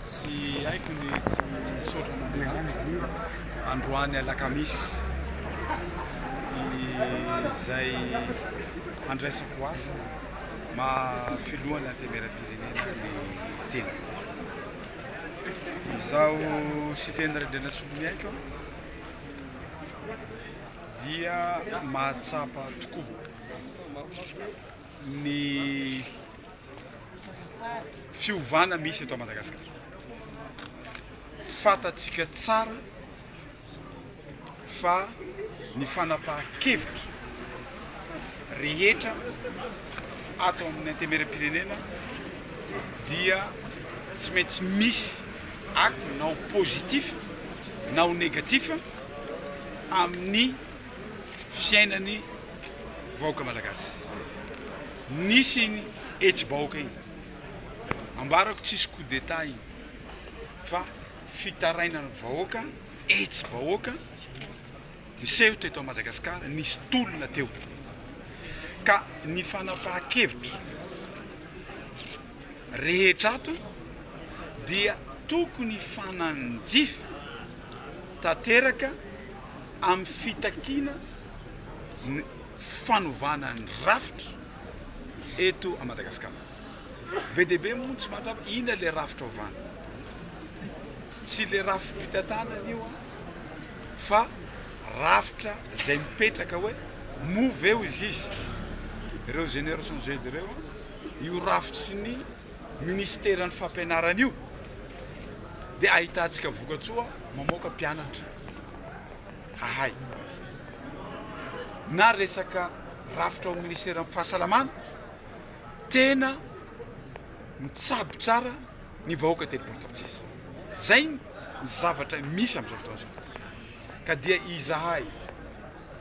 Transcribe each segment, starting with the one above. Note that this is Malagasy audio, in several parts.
Tsy haiko ny tsy misaotra an'Andriamanitra. Androany alakamisy izay handraisako asa maha filohan'ny antemeram-pirenena ny tena. Izaho Siteny Randrianasoloniaiko dia mahatsapa tokoa. ny fiovana misy eto Madagasikara. Fantatsika tsara fa ny fanapahan-kevitra rehetra ato amin'ny antemeram-pirenena dia tsy maintsy misy acte na ho positif na ho négatif amin'ny fiainan'ny vahoaka malagasy. Nisy iny hetsi-bahoaka iny. Ambarako tsisy coup d'état iny fa fitarainan'ny vahoaka, hetsi-bahoaka niseho teto Madagasikara, nisy tolona teo. Ka ny fanapahan-kevitra rehetra ato dia tokony hifanandrify tanteraka amin'ny fitakiana ny fanovana ny rafitra eto à Madagascar. Be dia be moa ny tsy mahatrava inona ilay rafitra ovana. Tsy ilay rafi-pitantanana io fa rafitra izay mipetraka hoe moa ve ho izy izy ireo générations Z ireo Io rafitry ny minisiteran'ny fampianarana io dia ahitantsika vokatsoa mamoaka mpianatra hahay. Na resaka rafitra ao minisiteran'ny fahasalamana, tena mitsabo tsara ny vahoaka telo polo tapitrisa. Zay ny zavatra misy amin'izao fotoana izao. Ka dia izahay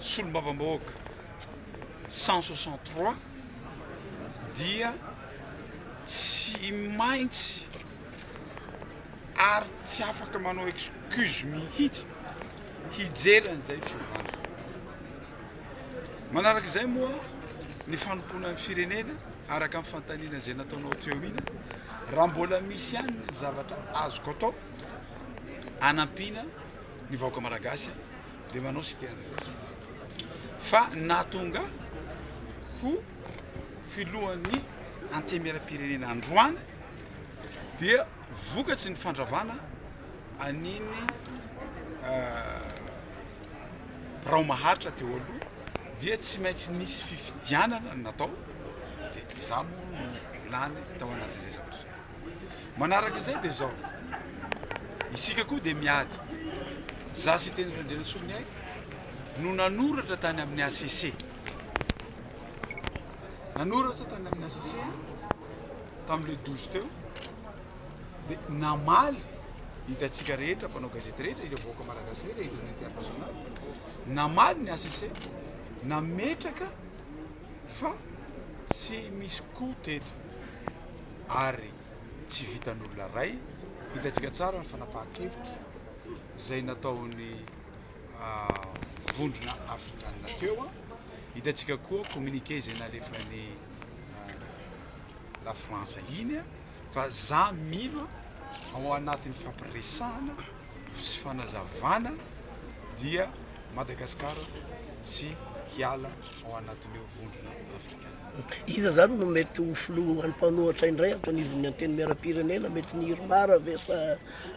solombavambahoaka cent soixante trois dia tsy maintsy ary tsy afaka manao excuse mihitsy hijery an'izay fiovana. Manaraka izay moa ny fanompoana ny firenena araka ny fantaniana izay nataonao teo ina raha mbola misy ihany ny zavatra azoko atao anampiana ny vahoaka malagasy dia manao sy tena fa nahatonga ho filohan'ny antemieram-pirenena androany dia vokatry ny fandravana an'iny euh, birao maharitra teo aloha dia tsy maintsy nisy fifidianana natao dia izaho moa no lany tao anatin'izay zavatra Manaraka izay dia izao, isika koa dia miady. Za sy teny Randrianasoa Miaiky no nanoratra tany amin'ny ACC. Nanoratra tany amin'ny ACC tamin'le 12 teo dia namaly hitantsika rehetra mpanao gazety rehetra ireo vahoaka malagasy rehetra ireo international namaly ny ACC nametraka fa tsy misy koa teto ary tsy vitan'olona iray. Hitantsika tsara ny fanapahan-kevitra izay nataon'ny ah, vondrona afrikanina teo. Ah. Hitantsika koa communiqué izay nalefan'ny ah, la France iny ah, fa za mino ao anatin'ny fampiresahana sy fanazavana dia Madagasikara tsy hiala ao anatin'io vondrona afrikanina. Iza zany no mety ho filohan'ny mpanohatra indray ato anivon'ny antenimieram-pirenena? Mety ny Irmar ve sa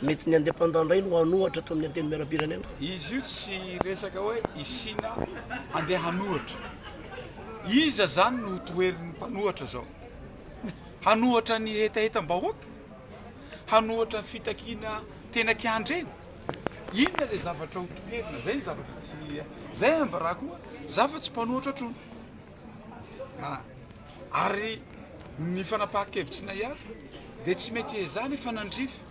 mety ny indépendant indray no hanohatra ato amin'ny antenimieram-pirenena? Izy io tsy resaka hoe i Sina handeha hanohatra. Iza zany no ho toherin'ny mpanohatra zao? Hanohatra ny hetahetam-bahoaka? Hanohatra ny fitakiana tena kiandrena? Inona le zavatra ho toherina? Zay ny zavatra tsy, zay ambarako hoe za fa tsy mpanohatra trony. Ah! Ary ny fanapahan-kevitry Naiary dia tsy mety hiezaha ny fanandrify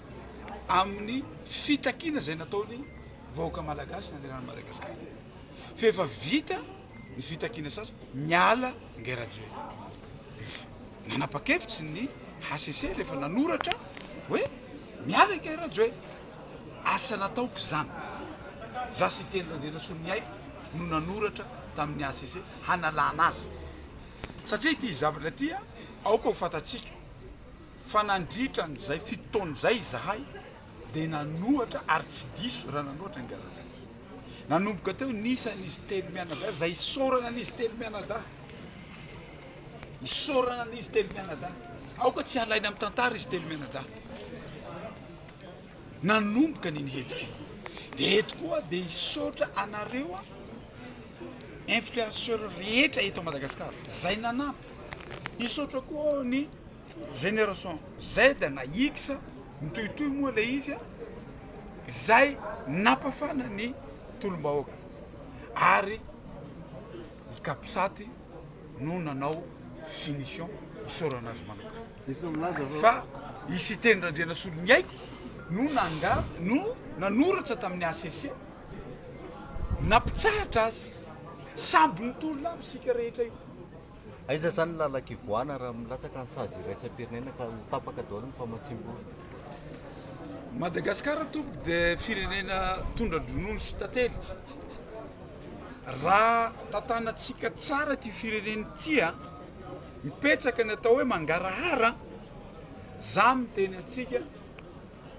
amin'ny fitakiana izay nataon'ny vahoaka malagasy nanerana an'i Madagasikara. Fa efa vita ny fitakiana sasa, miala Ngahy Rajoelina. Nanapa-kevitry ny HCC rehefa nanoratra hoe miala Ngahy Rajoelina. Asa nataoko izany. Izaho sy Ity Randrianasoloniaiko no nanoratra tamin'ny hcc hanalana azy. Satria ity zavatra ity aoka ho fantatsika fa nandritra an'izay fito taona izay izahay dia nanoatra ary tsy diso raha nanoatra ny gazetin'i. Nanomboka teo ny isa an'izy telo mianadahy izay isaorana an'izy telo mianadahy. Isaorana an'izy telo mianadahy. Aoka tsy halaina amin'ny tantara izy telo mianadahy. nanomboka an'iny hetsika iny dia eto koa dia hisaotra anareo influenceur rehetra eto Madagascar zay nanampy hisaotra koa aho ny génération Z na X mitohitohy moa le izy zay napafana ny tolom-bahoaka ary i Capsat no nanao finition isaorana azy manokana fa i Siteny Randrianasoloniaiko no nanga no nanoratra tamin'ny hcc, nampitsahatra azy. Sambo nitolona avy isika rehetra io. Aiza izany ny lalan-kivoahana raha milatsaka ny sazy iraisam-pirenena ka ho tapaka daholo ny famatsiam-bola? Madagasikara tompoko dia firenena tondra-dronono sy tantely. Raha tantanantsika tsara ity firenena ity a! Mipetraka ny atao hoe mangarahara an! Za miteny antsika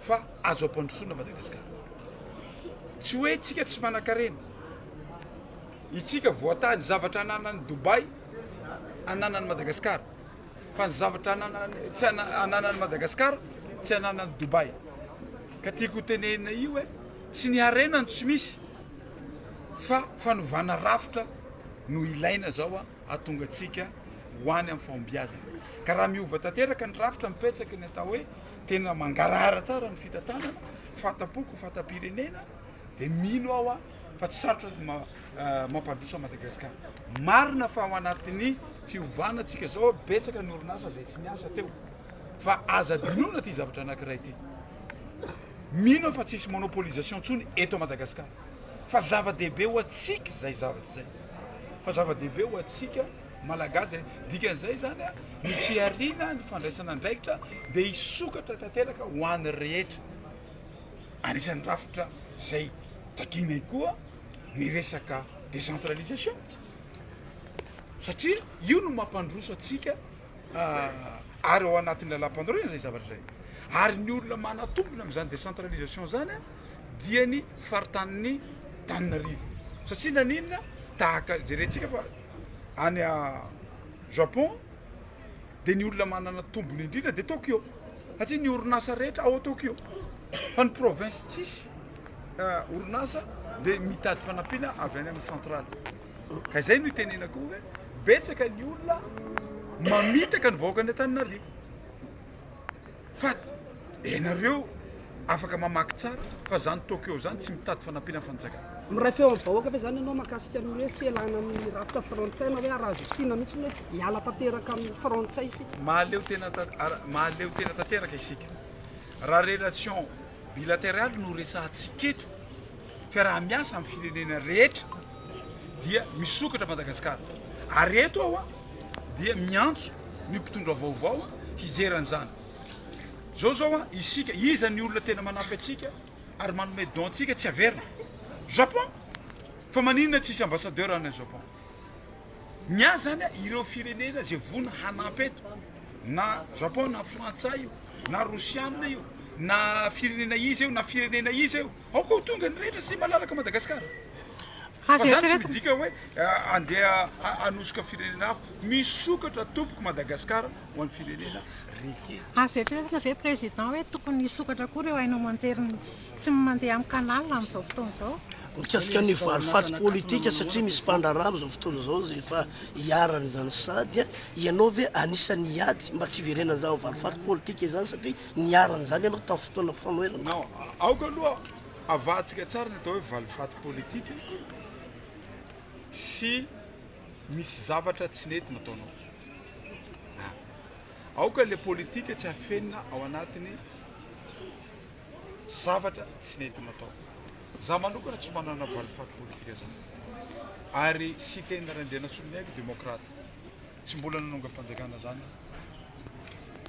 fa azo ampandrosoana Madagascar. Tsy hoe itsika tsy manankarena. Itsika voatady zavatra ananan'i Dubai ananan'i Madagascar. Fa ny zavatra ananan'i tsy ananan'i Madagascar tsy ananan'i Dubai. Ka tiako ho tenenina io hoe tsy ny harena no tsy misy fa fanovana rafitra no ilaina zao an! hahatonga antsika ho any amin'ny fahombiazana. Ka raha miova tanteraka ny rafitra mipetsaky ny atao hoe tena mangarahara tsara ny fitantanana, fahatampoko, fatam-pirenena, dia mino aho a, fa tsy sarotra ny ma- ah, mampandroso an'i Madagasikara. Marina fa ao anatin'ny fiovana antsika izao, betsaka ny orinasa izay tsy niasa teo. Fa aza adinoina ity zavatra anankiray ity. Mino aho fa tsisy monopolisation intsony eto Madagasikara. fa zava-dehibe ho antsika izay zavatra izay, fa zava-dehibe ho antsika Malagasy izay. Dikan'izay izany a, ny fihariana, ny fandraisana andraikitra dia hisokatra tanteraka ho an'ny rehetra. Anisan'ny rafitra izay takiana ihany koa ny resaka décentralisation, satria io no mampandroso antsika ary ao anatin'ny lalàmpanorenana izay zavatra izay. Ary ny olona manatombona amin'izany décentralisation izany a, dia ny faritanin'i Tananarive. Satria naninona? Tahaka jerentsika fa any Japon dia ny olona manana tombony indrindra dia Tokyo. Satria ny orinasa rehetra ao Tokyo. Fa ny province tsisy eh, orinasa dia mitady fanampiana avy any amin'ny centrale. Ka izay no itenenako hoe betsaka ny olona mamitaka ny vahoaka any Antananarivo. Fa ianareo afaka mamaky tsara fa zany Tokyo zany tsy mitady fanampiana fanjakana. Miray feo amin'ny vahoaka ve zany ianao mahakasika ny hoe fialana amin'ny rafitra frantsay na hoe arazotsina mihitsy ny hoe hiala tanteraka amin'ny frantsay isika? Mahaleo tena mahaleo tena tanteraka isika raha relation bilateraly no resahantsika eto, fiaraha-miasa amin'ny firenena rehetra dia misokatra Madagasikara. Ary eto aho dia miantso ny mpitondra vaovao hizera an'izany. Zao zao a, isika iza ny olona tena manampy antsika ary manome don antsika tsy averina? Japon! Fa maninona tsisy ambassadeur any Japon? Ny ahy zany a, ireo firenena ze voina hanampy eto, na Japon na frantsay io, na rosiana io, na firenena iza io, na firenena iza io, Aoka ho tonga ny rehetra sy malalaka Madagasikara. Fa izany tsy midika hoe handeha hanosoka firenena hafa. Misokatra tompoko Madagasikara ho an'ny firenena rehetra. Azo eritreretina ve Président hoe tokony hisokatra koa ireo haino aman-jery tsy mandeha amin'ny canal amin'izao fotoana izao? Mikasika ny valifaty politika satria misy mpandraharaha amin'izao fotoana izao izay efa iharan'izany sady ianao ve anisan'ny hiady mba tsy hiverenan'izany valifaty politika izany satria niharan' izany ianao tamin'ny fotoana fanoherana? Non, aoka aloha avahantsika tsara ny atao hoe valifaty politika sy misy zavatra tsy nety nataonao. A, aoka ilay politika tsy afenina ao anatin'ny zavatra tsy nety natao. Za manokana tsy manana valifaty politika zany. Ary Siteny Randrianasoloniaiko demokrata. Tsy mbola nanongam-panjakana zany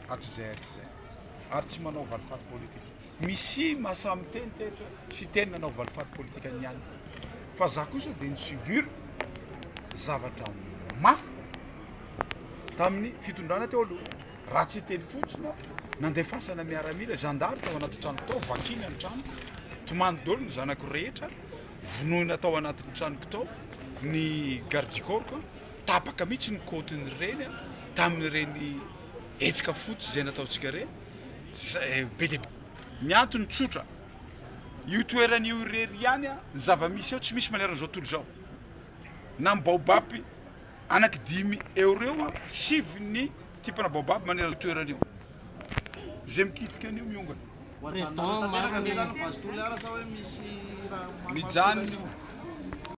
hatrizay hatrizay ary tsy manao valifaty politika. Misy mahasaha miteny teto sy teny nanao valifaty politika ny ihany. Fa za kosa dia nisubir zavatra mafy tamin'ny fitondrana teo aloha. Raha tsy teny fotsiny nandefasana miaramila, zandary tao anaty trano tao, vakina ny trano, tomany dolo ny zanako rehetra, vonoina tao anatin'ny tranoko tao ny garde du corps. tapaka mihitsy ny kaontin'ireny an, tamin'ireny hetsika fotsy izay nataontsika ireny, izay be dia be. Ny antony tsotra, io toerana io irery ihany an, ny zava-misy ao tsy misy maneran'izao tontolo izao. Na ny baobab, anaky dimy eo ireo an, sivy ny tipana baobab maneran'io toerana io. Izay mikitika an'io miongana. Président, marina ny. Mijanona io.